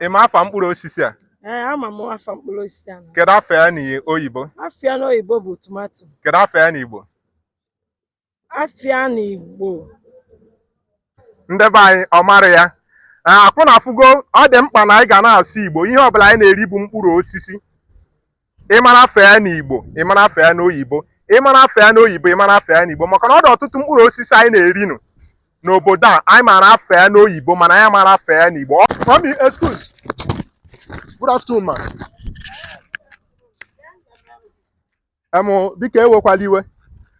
ị ma afa mkpụrụ osisi a ee ama m afa mkpụrụ osisi ahụ kedu afa ya n'oyibo afa ya n'oyibo bụ tomato kedu afa ya n'igbo afa ya na igbo ndị be anyị ọ mara ya Ee, akwa ụnụ afụgo ọ dị mkpa na anyị ga na-asụ igbo ihe ọbụla anyị na-eri bụ mkpụrụ osisi ị mara afa ya n'Igbo ị mara afa ya n'oyibo ị mara afa ya n'oyibo ị mara afa ya n'Igbo maka na ọ dị ọtụtụ mkpụrụ osisi anyị na-erinụ n'obodo a anyị mara afa ya n'oyibo mana anyị amara afa ya n'Igbo Mami, excuse. Good afternoon, ma. Em, biko ewekwala iwe.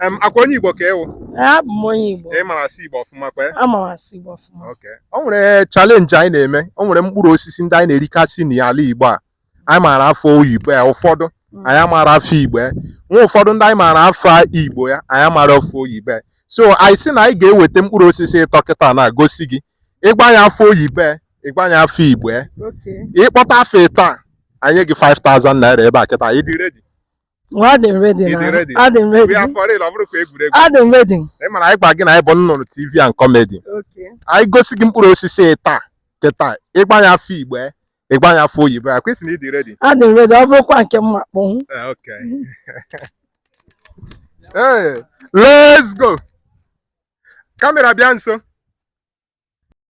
Em, akwa onye Igbo ka ị wụ Ee, abụ m onye Igbo ị mara asụ Igbo ọfụma kwe ama m asụ Igbo ọfụma Okay. o nwere challenge anyị na-eme o nwere mkpụrụ osisi ndị anyị na-erikasị n'ala Igbo a anyị maara afa oyibo ya ụfọdụ anyị amaara afa Igbo ya nwee ụfọdụ ndị anyị maara afa Igbo ya anyị amaara afa oyibo ya so anyị sị na anyị ga-eweta mkpụrụ osisi ịtọ kịta na-agosi gị ị gwa anyị afa oyibo ya ị gwa anyị afa Igbo ya Okay. ị kpọta afa ịtọ a anyị enye gị 5000 naira ebe a kịta anyị dị ready Well, adị m ready Ị dị na ready? adị m ready ya fọrọ ịlọ bụrụ ka egwuregwu adị m ready ị ma na anyị gwa gị na anyị bụ nnụnụ tv and comedy okay anyị gosi gị mkpụrụ osisi ịtọ a kịta ị gwa anyị afa igbo ya, ị gwa anyị afa oyibo ya kwa ị sị na ị dị ready adị m ready ọ bụrụkwa nke m ma-akpọnwu Eh, okay hey, let's go kamera bịa nso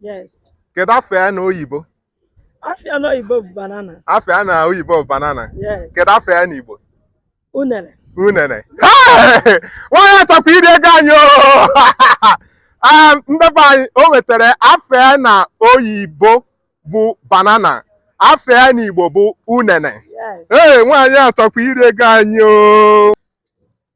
Yes. kedu afa ya na oyibo Afa ya n'oyibo bụ banana. afọ ya na oyibo bụ banana Yes. kedu afa ya na igbo Unere. unere Hey! nwaanyị a chọkwa iri ego anyị oo! Ah, ndị be anyị o nwetara afa ya na oyibo bụ banana afọ ya na igbo bụ unene Yes. ee nwaanyị a chọkwa iri ego anyị oo!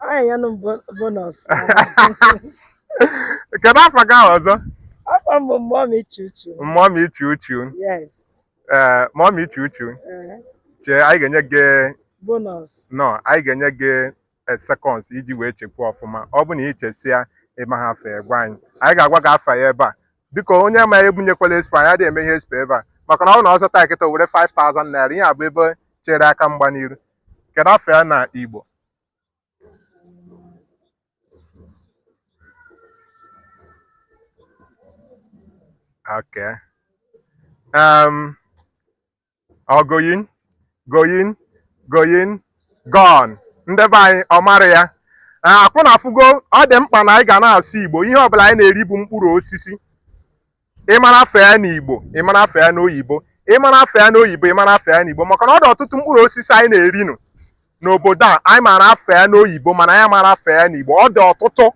Onye ya nụ bo- bonus. kedu afa gị ahụ ọzọ Afa m bụ mgbe ọ na-echi uchu. mọmi ichi uchu Yes. ee mọmi ichi uchu eh, chee anyị ga-enye gị Bonus. no anyị ga-enye gị seconds iji wee chekwa ọfụma ọ bụ na ị chesịa ị maha afa ya gwa anyị anyị ga-agwa gị afa ya ebe a biko onye ma ebunyekwala expo anyị adịghị eme ihe expo ebe a maka na ọ bụ na ọ zata kịta were 5000 naira ihe a bụ ebe chere aka mgba n'iru Kedu afa ya na Igbo? Okay. Um, ọ going, going, going, gone. Ndị be anyị ọ mara ya. Akwa ụnụ afụgo ọ dị mkpa na anyị ga na-asụ Igbo ihe ọbụla anyị na-eri bụ mkpụrụ osisi. ị mara afa ya n'igbo ị marọ afa ya n'oyibo ị mara afa ya n'oyibo ị marọ afa ya n'igbo maka na ọ dị ọtụtụ mkpụrụ osisi anyị na-eri nụ n'obodo a anyị mara afa ya n'oyibo mana anyị amarọ afa ya n'igbo ọ dị ọtụtụ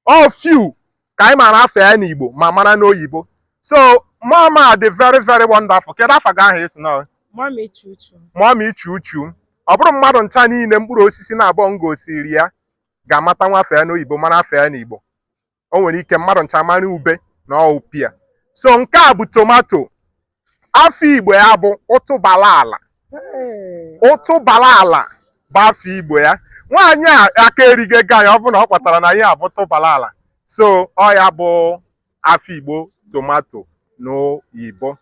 ọ few ka anyị mara afa ya n'igbo ma mara n'oyibo so mama dị very very wonderful kedu afa gị ahụ esi na Mama ichu uchu. mama ichu uchu ọ bụrọ mmadụ ncha niile mkpụrụ osisi naabọ m gosiri ya ga-amatanwu afa ya n'oyibo mara afa ya n'igbo o nwere ike mmadụ ncha mara ube na ọ bụ pear so nke a bụ tomato afa igbo ya bụ ụtụbala ala ụtụbala ala bụ afa igbo ya nwaanyị a aka erigo ego anyị ọ bụrụ na ọ kpọtara na ihe a bụ ụtụbala ala so ọ ya bụ afa igbo tomato n'igbo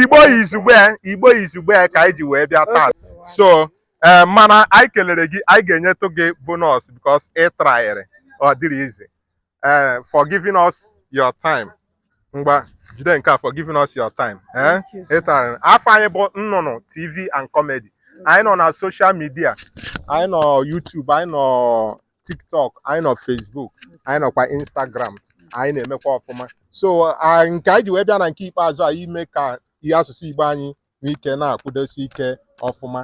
igbo izugbe igbo izugbe ka anyị ji wee bịa taa so ee mana anyị kelere gị anyị ga-enyetụ gị bonus because ị traịrị ọ dịrọ easy ee for giving us your time ngwa jide nke a for giving us your time ee ị traịrị afa anyị bụ nnụnụ tv and comedy anyị nọ na social media anyị nọ YouTube anyị nọ TikTok anyị nọ Facebook anyị nọkwa Instagram anyị na-emekwa ọfụma so a- nke anyị ji wee bịa na nke ikpeazụ a ime ka ihe asụsụ Igbo anyị nwee ike na-akwụdosi ike ọfụma